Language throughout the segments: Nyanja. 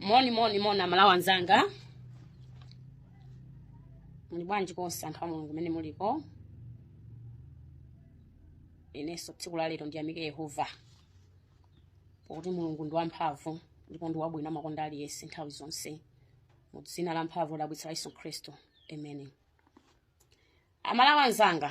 moni moni moni amalawi anzanga muli bwanji konse anthu a mulungu mene muliko inenso tsiku la lero ndiyamike yehova pakuti mulungu ndi wamphamvu ndipo ndi wabwino amakonda aliyense nthawi zonse mu dzina la mphamvu lodabwitsa la yesu khristu amen amalawi anzanga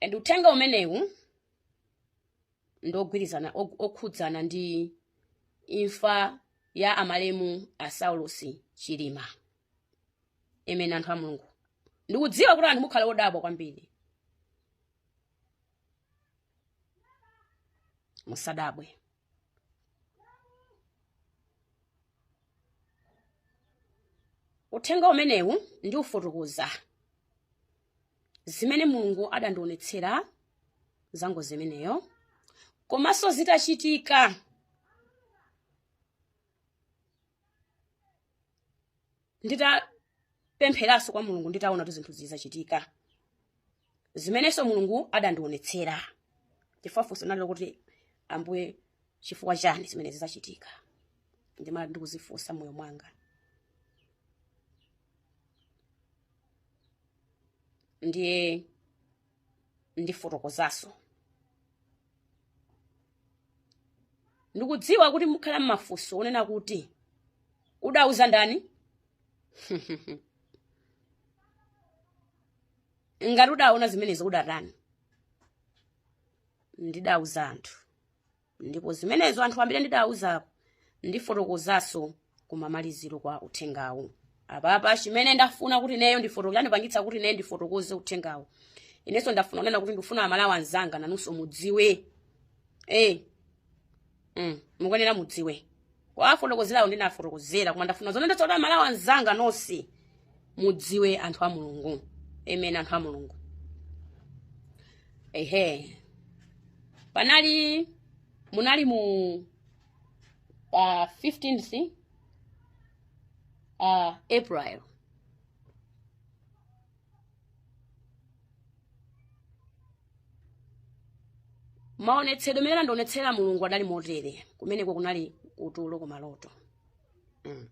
and uthenga umenewu ndogwirizana ok- okhudzana ndi imfa ya amalemu a saulosi chilima amen anthu a mulungu ndikudziwa kuti anthu mukhala odabwa kwambiri musadabwe uthenga umenewu ndiufotokoza zimene mulungu adandionetsera za ngozi imeneyo komanso zitachitika nditapempheranso kwa mulungu nditaona kuti zinthu izi zachitika zimenenso mulungu adandionetsera chifukwa funso linali lokuti ambuye chifukwa chani zimenezi zachitika ndimakhala ndikuzifunsa mmoyo mwanga ndiye ndifotokozaso ndikudziwa kuti mukhala ndi mafunso onena kuti udauza ndani ngati udaona zimenezo udatani ndidauza anthu ndipo zimenezo anthu ambiri ndidawuzako ndifotokozanso kumamaliziro kwa uthengawu apapa chimene ndafuna kuti neyo ndifotokoze chandipangitsa kuti neyo ndifotokoze uthengawu inenso ndafuna kunena kuti ndifuna amalawi anzanga nanunso mudziwe eh mm, mukuyenera mudziwe owafotokozerawo ndinafotokozera koma ndafuna zonena zoti amalawi anzanga nonse mudziwe anthu a mulungu amen anthu a mulungu ehe panali munali mu uh, 15th uh, april maonetsedwe mmene andionetsera mulungu adali motere kumeneko kunali kutulo ku maloto mm.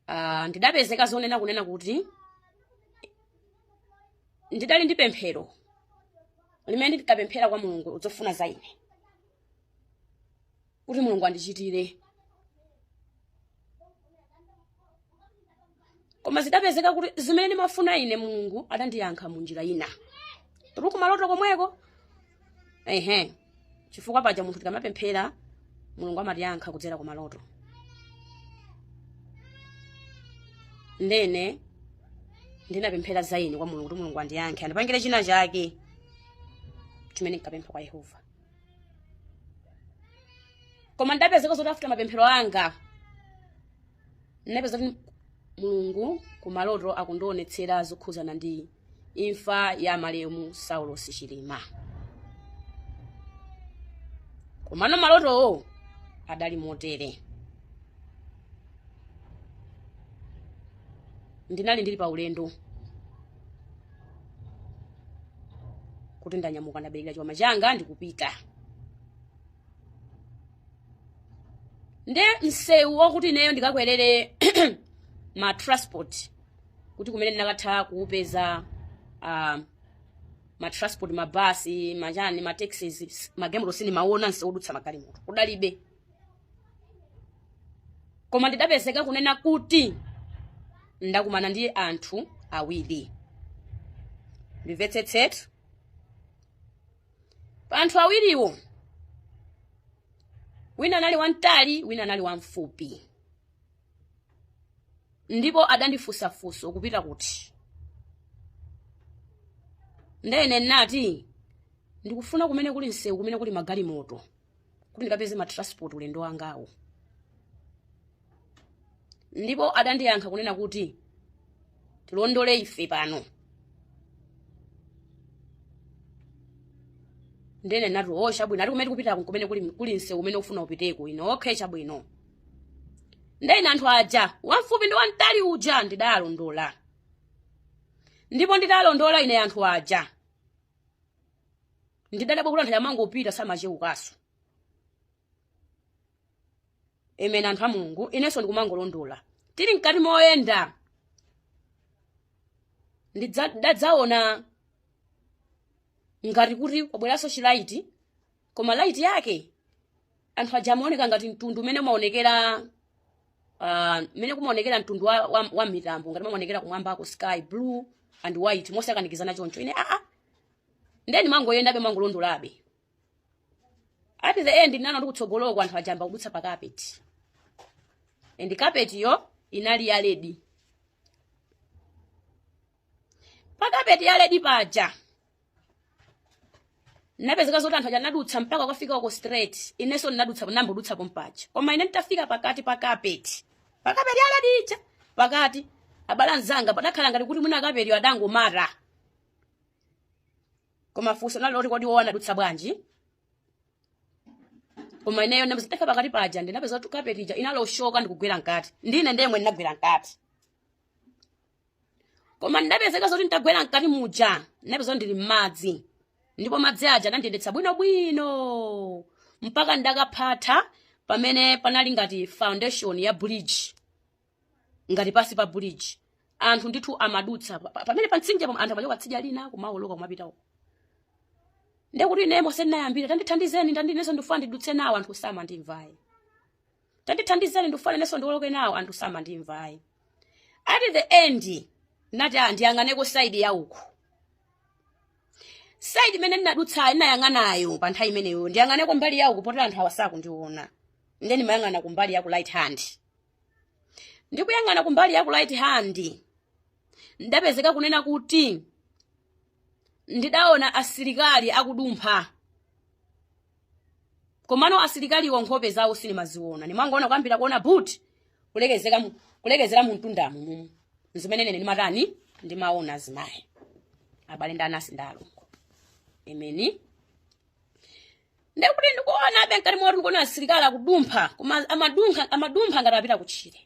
Ah, ndidapezeka zonena kunena kuti ndidali ndi pemphero limene ndidapemphera kwa mulungu zofuna za ine kuti mulungu andichitire koma zidapezeka kuti zimene ndimafuna ine mulungu adandiyankha mu njira ina tili kumaloto komweko ehe chifukwa paja munthu tikamapemphera mulungu amatiyankha kudzera kumaloto ndene ndinapemphera za ine kwa mulungu kuti mulungu andiyankhe andipangire china chake chimene nkapempha kwa yehova koma ndapezeka zoti afuta mapemphero anga ndinapeza kuti mulungu kumaloto akundionetsera zokhuzana ndi imfa ya amalemu saulosi chilima komano malotowo adali motere ndinali ndili pa ulendo kuti ndanyamuka ndabereka chikwama changa ndikupita nde msewu wakuti ineyo ndikakwerere ma transport kuti kumene ndinakatha kuupeza uh, ma transport mabasi machani ma taxis magemo sindimaona msewu odutsa magalimoto kudalibe koma ndidapezeka kunena kuti ndakumana ndi anthu awiri ndimvetsetsetu pa anthu awiriwo wina anali wamtali wina anali wamfupi ndipo adandifunsa funso kupita kuti ndene nati ndikufuna kumene kuli msewu kumene kuli magalimoto kuti ndikapeze matransport ulendo wangawo ndipo adandiyankha kunena kuti tilondole ife pano ndene nati o chabwino ati kumene tikupita kumene kuli, kuli msewu umene ufuna upiteko ine okay chabwino ndene anthu aja wamfupi ndi wamtali uja ndidalondola ndipo ndidalondola ine anthu aja ndidadabwa kuti anthu amangopita samacheukaso amen anthu a mulungu inenso ndikumangolondola tili mkati moyenda ndidadzaona ngati kuti kwabweranso chilaiti koma light yake anthu aja amaoneka ngati mtundu umene umaonekera ah, mmene kumaonekera mtundu wa, wa, wa mitambo ngati amaonekera kumwambako sky blue and white mosakanikizana choncho ine aa nde nimangoyendabe nimangolondolabe at the end ndinaona ndi kutsogoloko kwa anthu aja ayamba kudutsa pa carpet and carpet yo inali ya red pa carpet ya red paja ndinapeza zoti anthu aja anadutsa mpaka kukafika uko straight inenso ndinadutsa nambodutsa pompaja koma ine nditafika pakati pa kapeti pakapeti ya red ija pakati abale anzanga padakhala ngati kuti mwina kapetiyo adangomata koma funso nali loti kodi iwo anadutsa bwanji koma ineyo ndimati ndifike pakati paja ndinapeza kuti kapeti ija inaloshoka ndikugwera mkati ndine yemwe ndinagwera mkati koma ndinapeza zoti nditagwera mkati muja ndinapeza ndili m'madzi ndipo madzi aja anandiyendetsa bwinobwino mpaka ndakaphatha pamene panali ngati foundation ya bridge ngati pasi pa bridge anthu ndithu amadutsa pa- pa- pamene pamtsinje pam- anthu amachoka tsidya lina kumawoloka kumapita uko ndekuti ine m'mene ndinayambira tandithandizeni inenso ndifuna ndidutse nawo anthu samandimva ayi tandithandizeni ndikufuna inenso ndiwoloke nawo anthu samandimva ayi at the end ndinati "Ah, ndiyang'aneko saidi ya uku saidi imene ndinadutsayo ndinayang'anayo pa nthawi imeneyo ndiyang'aneko mbali ya uku poti anthu awa sakundiona ndiye ndimayang'ana kumbali ya ku right hand ndikuyang'ana kumbali ya ku right hand ndinapeza kunena kuti ndidaona asilikali akudumpha komano asilikaliwo nkhope zawo sindimaziona ndimangoona kuyambira kuona buti kulekezeka mu- kulekezera mu mtundamu mumu ndi zimene ine ndimatani ndimaona zimenezo abale ndi anasi ndi alongo ameni ndekuti ndikuonabe mkati moti ndikuona asilikali akudumpha koma amadumpha amadumpha ngati apita kutchire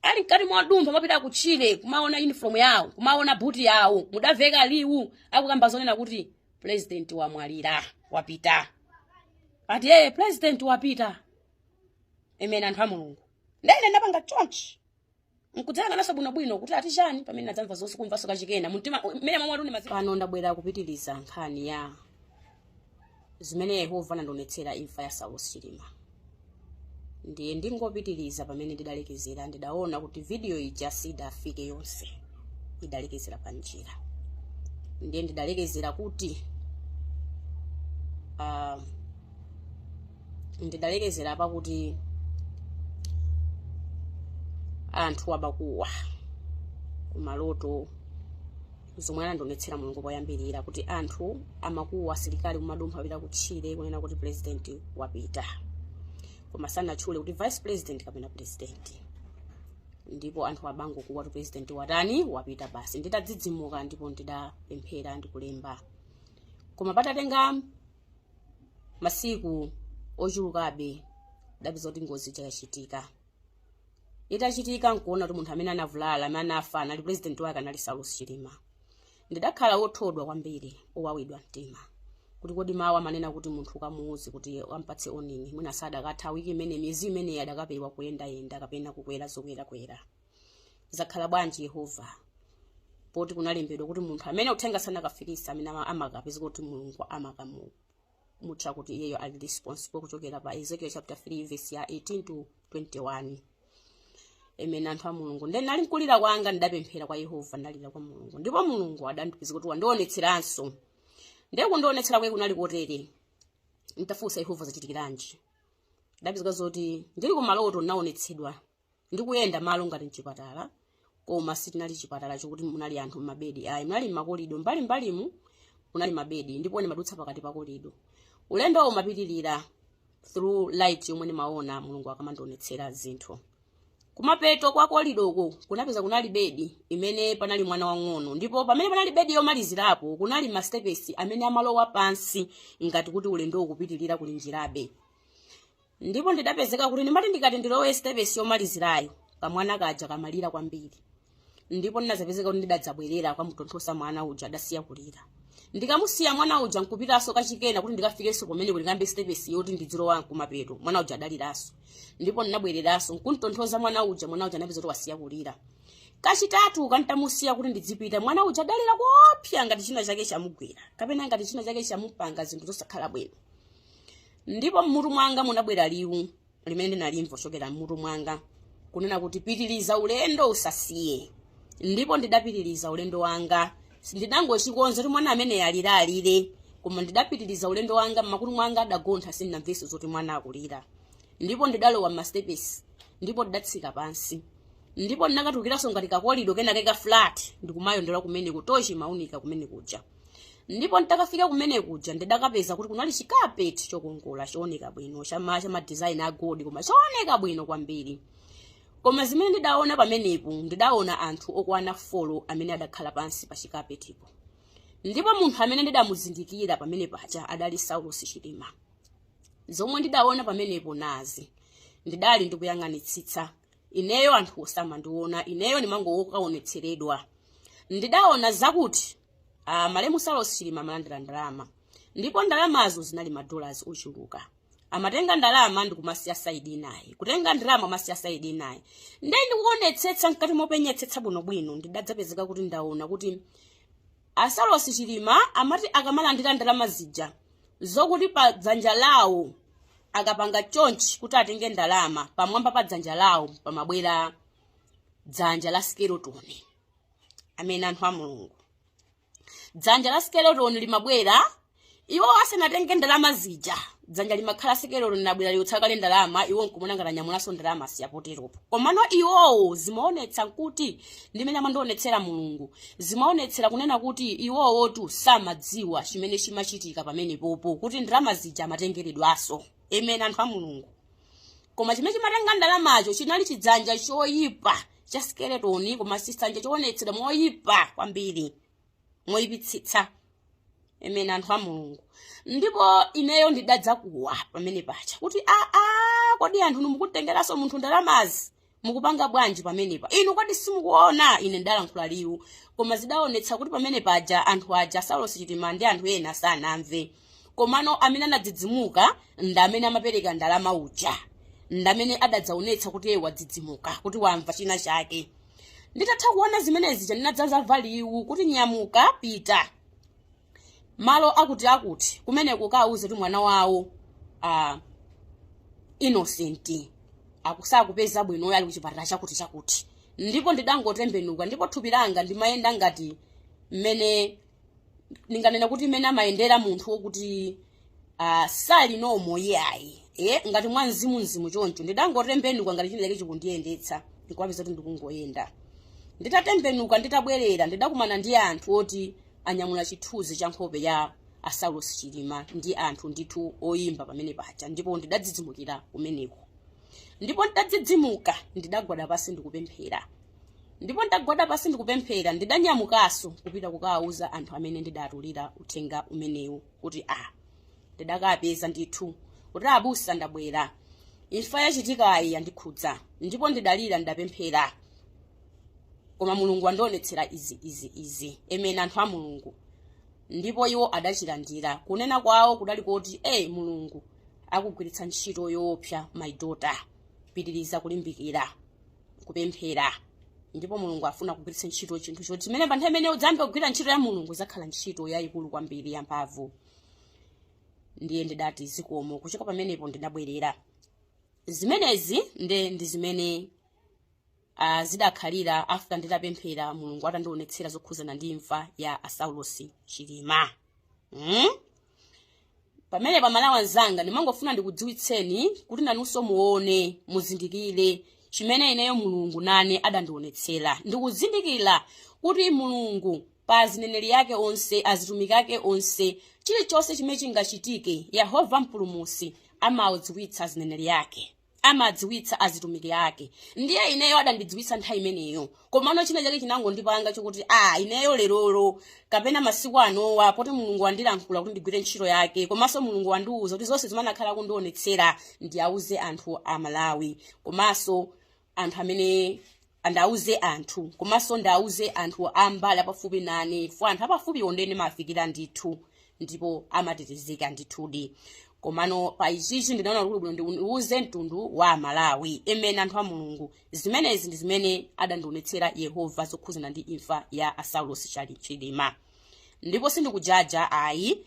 ali mkati modumpha kumapita kutchire kumaona uniform yawo kumaona buti yawo kudamveka liwu akukamba zonena kuti president wamwalira wapita ati yeye president wapita amen anthu a mulungu ndiye ndinapanga chonchi nkudzayang'ananso bwinobwino kuti ati chani pamene ndinadzamva zonse kumvanso kachiwiri mumtima mmene mwamvatu ndi maziko pano ndabwera kupitiriza nkhani ya zimene yehova anandionetsera imfa ya saulos chilima ndiye ndingopitiriza pamene ndidalekezera ndidaona kuti vidiyo ija sidafike yonse idalekezera pa njira ndiye ndidalekezera kuti uh, ndidalekezera pakuti anthu amakuwa kumaloto zomwe anandionetsera mulungu poyambirira kuti anthu amakuwa asilikali kumadumpha apita kutchire kunena kuti president wapita koma sanatchule kuti vice president kapena president ndipo anthu amangokuwa kuti president watani wapita basi nditadzidzimuka ndipo ndidapemphera ndikulemba koma padatenga masiku ochulukabe ndapeza kuti ngozi yakachitika itachitika nkuona kuti munthu amene anavulala amene anafa anali pulezidenti wake anali saulos chilima ndidakhala wothodwa kwambiri wowawidwa mtima kuti kodi mawu amanena kuti munthu ukamuuze kuti umpatse warning mwina sadakatha wiki imene miyezi imeneyi adakapewa kuyendayenda kapena kukwera zokwerakwera zakhala bwanji yehova poti kunalembedwa kuti munthu amene uthenga sanakafikisa amene ama- amakapeza kuti mulungu amakamu tcha kuti iyeyo ali responsible kuchokera pa ezekiel chapter 3 verse ya 18 to 21 amen anthu a mulungu nde ndinali mkulira kwanga ndidapemphera kwa yehova ndalira kwa mulungu ndipo mulungu adandipeza kuti wandionetseranso ndiye kundionetsera kwake kunali kotere ntafunsa yehova zachitikiranji ndapezeka zoti ndili kumaloto ndinaonetsedwa ndikuyenda malo ngati mchipatala koma sichinali chipatala chokuti munali anthu m'mabedi ayi munali makolido mbalimbalimu munali mabedi ndipo ndimadutsa pakati pa kolido ulendo umapitirira through light yomwe ndimaona mulungu akamandionetsera zinthu kumapeto kwa kolidoko kunapeza kunali bedi imene panali mwana wang'ono ndipo pamene panali bedi yomalizirapo kunali masitepesi amene amalowa pansi ngati kuti ulendo ukupitirira kuli njirabe ndipo ndidapezeka kuti ndimati ndikati ndilowe stepesi yomalizirayo kamwana kaja kamalira kwambiri ndipo ndinazapezeka kuti ndidadzabwerera kukamutonthoza mwana uja adasiya kulira ndikamusiya mwana uja nkupitanso kachikena kuti ndikafikenso kumene kuti ndiyambe stepesi yoti ndidzilowa kumapeto mwana uja adaliranso ndipo ndinabwereranso nkuntonthoza mwana uja mwana uja anapeza kuti wasiya kulira kachitatu ntamusiya kuti ndidzipita mwana uja adalira kuopsa ngati china chake chamugwera kapena ngati china chake chamupanga zinthu zosakhala bwino Ndipo m'mutu mwanga munabwera liwu limene ndinalimva kuchokera m'mutu mwanga, kunena kuti, Pitiriza ulendo, usasiye. Ndipo ndidapitiriza ulendo wanga. Ndidangochikonza kuti mwana ameneyo alira alire, koma ndidapitiriza ulendo wanga, m'makutu mwanga adagontha, sindinamvenso zoti mwana akulira. Ndipo ndidalowa m'masitepesi, ndipo ndidatsika pansi. Ndipo ndinakatulukiranso ngati kakolido kenake ka flat, ndikumayendera kumeneko, tochi imaunika kumene kuja. ndipo nditakafika kumene kuja ndidakapeza kuti kunali chikapeti chokongola chooneka bwino chama cha madizaini a gold koma chooneka bwino kwambiri koma zimene ndidaona pamenepo ndidaona anthu okwana folo amene adakhala pansi pa chikapetipo ndipo munthu amene ndidamuzindikira pamene paja adali saulosi chilima zomwe ndidaona pamenepo nazi ndidali ndikuyang'anitsitsa ineyo anthu osamandiona ineyo ndimangokaonetseredwa ndidaona zakuti uh, malemu saulos chilima amalandira ndalama ndipo ndalamazo zinali madollars ochuluka amatenga ndalama ndikumasiya saidi inayo kutenga ndalama amasiya saidi inayo ndiye ndikuonetsetsa mkati mopenyetsetsa bwinobwino ndidadzapezeka kuti ndaona kuti A Saulos Chilima amati akamalandira ndalama zija zokuti pa dzanja lawo akapanga chonchi kuti atenge ndalama pamwamba pa dzanja lawo pamabwera dzanja la skeleton amen anthu a mulungu dzanja la skeleton limabwera iwo asanatenge ndalama zija dzanja limakhala skeletoni linabwera liutsa kale ndalama iwo nkumona ngati anyamulanso ndalama si apoteropo komano iwowo zimaonetsa kuti ndimene amandionetsera mulungu zimaonetsera kunena kuti iwowotu samadziwa chimene chimachitika pamenepopo kuti ndalama zija amatengeredwaso amen anthu a mulungu koma chimene chimatenga ndalamacho chinali chidzanja choyipa cha skeletoni koma chidzanja choonetsera moyipa kwambiri moyipitsitsa amen anthu a mulungu ndipo ineyo ndidadzakuwa pamene paja kuti aa kodi anthu mukutengeraso munthu ndalamazi mukupanga bwanji pamenepa inu kodi simukuona ine ndalankhula liwu koma zidaonetsa kuti pamene paja anthu aja saulosi chilima ndi anthu ena sanamve komano amene anadzidzimuka ndi amene amapereka ndalama uja ndi amene adadzaonetsa kuti iye wadzidzimuka kuti wamva china chake nditatha kuona zimenezi zija ndinadzamva liwu kuti nyamuka pita malo akuti akuti kumene ukawauze kuti mwana wawo ah, innocent akusakupeza bwino uyo ali kuchipatala chakuti chakuti ndipo ndidangotembenuka ndipo thupi langa ndimayenda ngati mmene ndinganena kuti mmene amayendera munthu wokuti uh, sali nomo iyayi e ngati mwa mzimu mzimu choncho ndidangotembenuka ngati china chake chikundiyendetsa ndikuwapeza kuti ndikungoyenda nditatembenuka nditabwerera ndidakumana ndi anthu oti anyamula chithunzi cha nkhope ya asaulos chilima ndi anthu ndithu oyimba pamene paja ndipo ndidadzidzimukira kumeneko ndipo ndidadzidzimuka ndidagwada pasi ndikupemphera ndipo ndagwada pasi ndikupemphera ndidanyamukaso kupita kukawauza anthu amene ndidatulira uthenga umenewu kuti a ndidakapeza ndithu kuti abusa ndabwera imfa yachitikayi yandikhudza ndipo ndidalira ndidapemphera koma mulungu andionetsera izi izi izi amen anthu a mulungu ndipo iwo adachilandira kunena kwawo kudali kuti e mulungu akugwiritsa ntchito yoopsa my daughter pitiriza kulimbikira kupemphera ndipo mulungu afuna kugwiritsa ntchito chinthu choti chimene pa nthawi imene udzayambe kugwira ntchito ya mulungu idzakhala ntchito yayikulu kwambiri yamphamvu ndiye ndidati zikomo kuchoka pamenepo ndidabwerera zimenezi nde ndi zimene uh, zidakhalira after nditapemphera mulungu atandionetsera zokhudzana ndi imfa ya asaulosi chilima mm? pamene amalawi anzanga ndimangofuna ndikudziwitseni kuti nanunso muone muzindikire chimene ineyo mulungu nane adandionetsera ndikuzindikira kuti mulungu pa azineneri ake onse azitumiki ake onse chilichonse chimene chingachitike yehova mpulumutsi amadziwitsa azineneri ake amadziwitsa azitumiki ake ndiye ineyo adandidziwitsa nthawi imeneyo komano china chake chinangondipanga chokuti a ineyo lerolo kapena masiku anowa poti mulungu wandilankhula kuti ndigwire ntchito yake komanso mulungu wandiwuza kuti zonse zimene akhala akundionetsera ndiwauze anthu amalawi komanso anthu amene ndiwauze anthu komanso ndiwauze anthu a mbali apafupi nane chifukwa anthu apafupiwo ndiye ndimawafikira ndithu ndipo amatetezeka ndithudi komano pa ichichi ndinaona kuti bwino ndiuze mtundu wa amalawi amene anthu a mulungu zimenezi ndi zimene adandionetsera yehova zokhudzana ndi imfa ya a saulos chilima ndipo sindikujaja ayi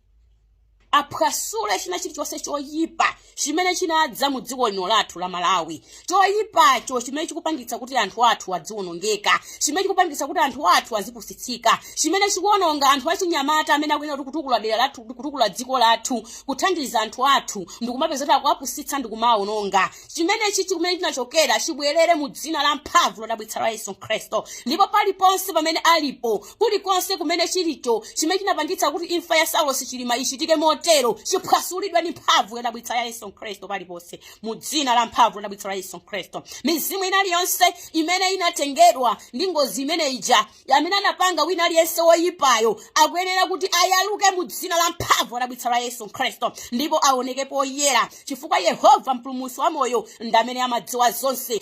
aphwasule china chilichonse choyipa chimene chinadza mu dziko lino lathu la malawi choyipacho chimene chikupangitsa kuti anthu athu adziwonongeka chimene chikupangitsa kuti anthu athu azipusitsika chimene chikuwononga anthu achinyamata amene akuyenera kutukula dera lathu kutukula dziko lathu kuthandiza anthu athu ndikumapeza kuti akuwapusitsa ndikumawawononga chimenechi kumene chinachokera chibwerere mu dzina la mphamvu lodabwitsa la yesu khristu ndipo paliponse pamene alipo Kulikonse kumene chilicho chimene chinapangitsa kuti imfa ya Saulos Chilima ichitike motero chiphwasulidwe ndi mphamvu yodabwitsa ya Yesu Khristu paliponse mu dzina la mphamvu lodabwitsa la Yesu Khristu. Mizimu ina iliyonse imene inatengedwa ndi ngozi imene ija amene anapanga wina aliyense woyipayo akuyenera kuti ayaluke mu dzina la mphamvu lodabwitsa la Yesu Khristu ndipo aoneke poyera chifukwa Yehova mpulumutsi wa moyo ndi amene amadziwa zonse.